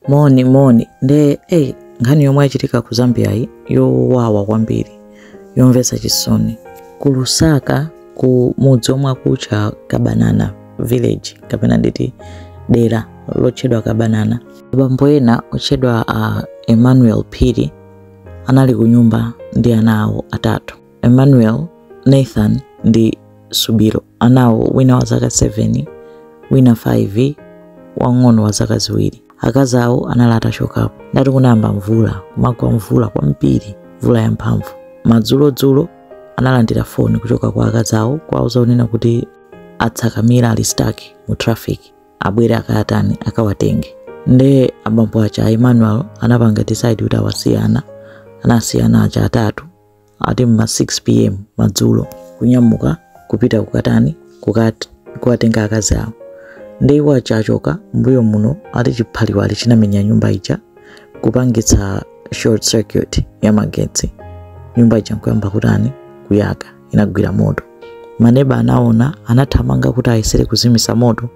moni moni nde iyi nkhani yomwe yachitika ku zambiyayi yowawa kwambiri yomvetsa chisoni ku lusaka ku mudzi omwe akutcha kabanana village kapena nditi dera lotchedwa kabanana abambo ena otchedwa a emmanuel phiri anali ku nyumba ndi ana awo atatu Emmanuel, Nathan ndi Subiro. Anawo wina wa zaka 7, wina 5, wang'ono wa zaka ziwiri. Akazi awo anali atachokapo. Nde ati kunayamba mvula, kumagwa mvula kwambiri, mvula yamphamvu. Madzulodzulo analandira foni kuchoka kwa akazi awo kuwauza kunena kuti atsakamira ali stuck mu traffic abwere akayatani akawatenge nde abambo aja a emmanuel anapanga decide kuti awasiye ana anasiya ana aja atatu ati mma 6 pm madzulo kunyamuka kupita kukatani kukat- kukatenga akazi awo nde iwo aja achoka mbuyo muno ati chiphaliwali chinamenya nyumba ija kupangitsa short circuit ya magetsi nyumba ija nkuyamba kutani kuyaka inagwira moto maneba anaona anathamanga kuti ayesere kuzimisa moto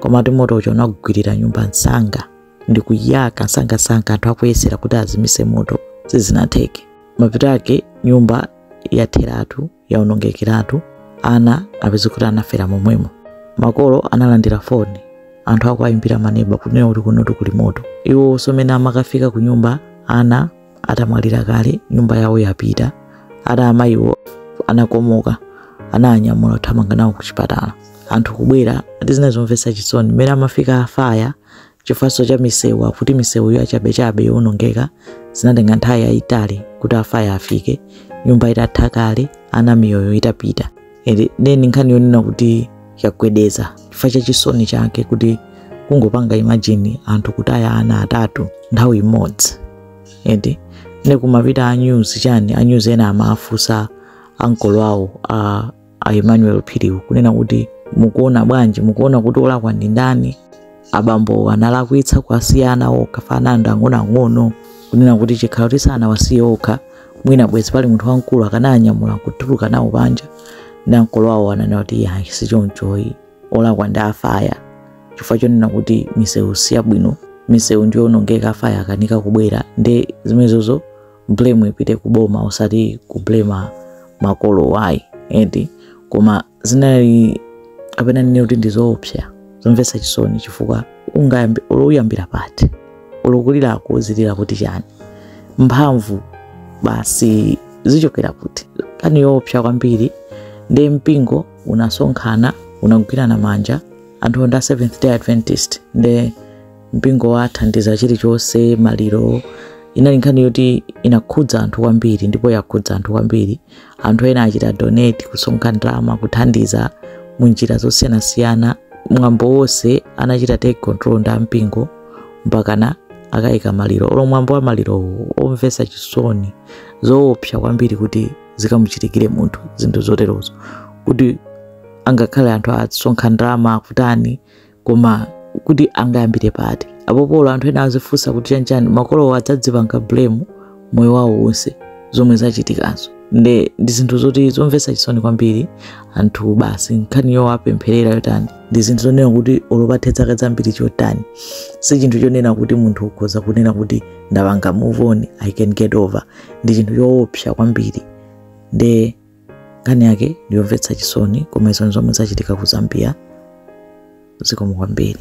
koma ati moto uja unagwirira nyumba msanga ndi kuyaka nsangansanga anthu akuyesera kuti azimise moto sizinatheke mapeto ake nyumba yatheratu yaonongekeratu ana apeza kuti anafera momwemo makolo analandira foni anthu akuwayimbira maneba kunena kuti kunotu kuli moto iwo somene amakafika ku nyumba ana atamwalira kale nyumba yawo yapita ati amayiwo anakomoka ananyamula kuthamanga nawo ku chipatala anthu kubwera ati zinali zomvetsa chisoni mmene amafika afaya chifukwanso cha misewu akuti misewu yachabechabe yowonongeka zinatenga nthawi yayitali kuti afaya afike nyumba itatha kale ana miyoyo itapita nde ndi nkhani yonena kuti yagwedeza chifukwa cha chisoni chake kuti kungopanga imagine anthu kutaya ana atatu nthawi imodzi eti nde kunapita a news chani a news ena amafunsa ankolo awo a a Emmanuel Phiriwo kunena kuti mukuona bwanji, mukuona kuti olakwa ndi ndani? Abambo analakwitsa kuwasiya ana okha ana ndi ang'onoang'ono kunena kuti chikakhala kuti sanawasiye okha mwina bwezi pali munthu wamkulu akananyamula kutuluka nawo panja nde ankolo awo ananena kuti iyayi si chonchoyi olakwa ndi afaya chifukwa chonena kuti misewu siyabwino misewu ndiyonongeka afaya akanika kubwera ndi zimenezozo blame ipite ku boma osati kublema makolo ayi eti koma zinali kapena ndinene kuti ndizoopsa zomvetsa chisoni chifukwa ungayambi uyambira pati ulukulira akuuzirira kuti chani mphamvu basi zichokera kuti nkhani yoopsa kwambiri nde mpingo unasonkhana unagwirana manja anthuwo ndi a seventh day adventist nde mpingo wathandiza chilichonse maliro inali nkhani yoti inakhudza anthu kwambiri ndipo yakhudza anthu kwambiri anthu ena achita donate kusonkha ndalama kuthandiza mu njira zosiyanasiyana mwambo wonse anachita take control ndi ampingo mpakana akayika maliro olo mwambo wa malirowo omvetsa chisoni zoopsa kwambiri kuti zikamuchitikire munthu zinthu zoterozo kuti angakhale anthu asonkha ndalama akutani koma kuti angayambire pati apo olo anthu ena azifunsa kuti chanchani makolowo adzadzipanga blame moyo wawo wonse zomwe zachitikazo nde ndi zinthu zoti zomvetsa chisoni kwambiri anthu basi nkhani yowapempherera yotani ndi zinthu zonena kuti olo pathe zaka zambiri chotani si chinthu chonena kuti munthu ukhoza kunena kuti ndapanga move on i can get over ndi chinthu choopsa kwambiri nde nkhani yake ndiyomvetsa chisoni koma izo nzomwe zachitika ku zambia zikomo kwambiri